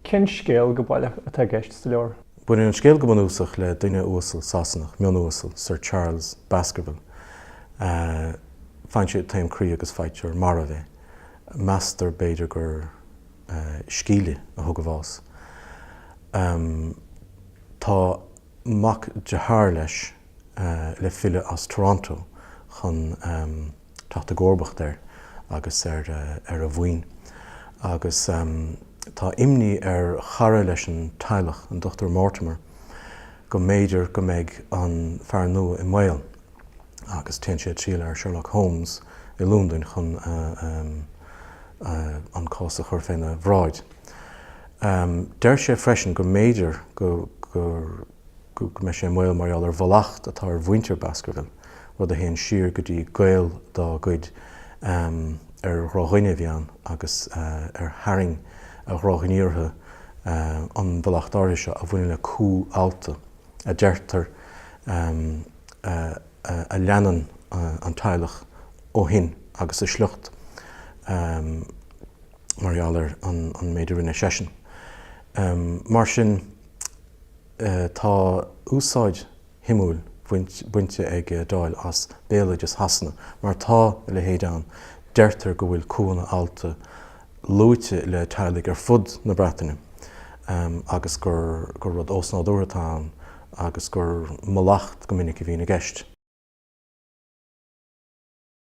Cén scéal go baileach atá i gceist sa leabhar? Baineann an scéal go bunúsach le duine uasal Sasanach, mion-uasal, Sir Charles Baskerville. Faigheann sé taom croí agus faightear marbh é. Meastar b'fhéidir gur scéin a thug a bhás. Tá mac dearthár leis le filleadh as Toronto chun. teacht i gcomharbacht air agus ar a mhaoin agus tá imní ar chara leis an teaghlach, an Dr Mortimer, go mb'fhéidir go mbeidh an fear nua i mbaol agus téann sé ag triall ar Sherlock Holmes i Londain chun an cás a chur féna bhráid. Deir sé freisin go mb'fhéidir go. go mbeidh sé i mbaol mar gheall ar mhallacht atá ar mhuintir Baskerville, rud a théann siar go dtí gaol dá gcuid ar dhrochdhuine a bhí ann agus ar tharraing a dhrochghníomhartha an mhallacht áirithe seo, a bhaineann le cú allta, a deirtear, a leanann an teaghlach ó shin agus a sliocht mar gheall ar an méid a rinne seisean. Mar sin. Tá úsáid shuimiúil bainte ag Doyle as béaloideas Shasana, mar tá a leithéid ann, deirtear go bhfuil cúnna allta luaite le teaghlaigh ar fud na Breataine agus gur rud osnádúrtha atá ann agus gur mallacht go minic a bhíonn i gceist.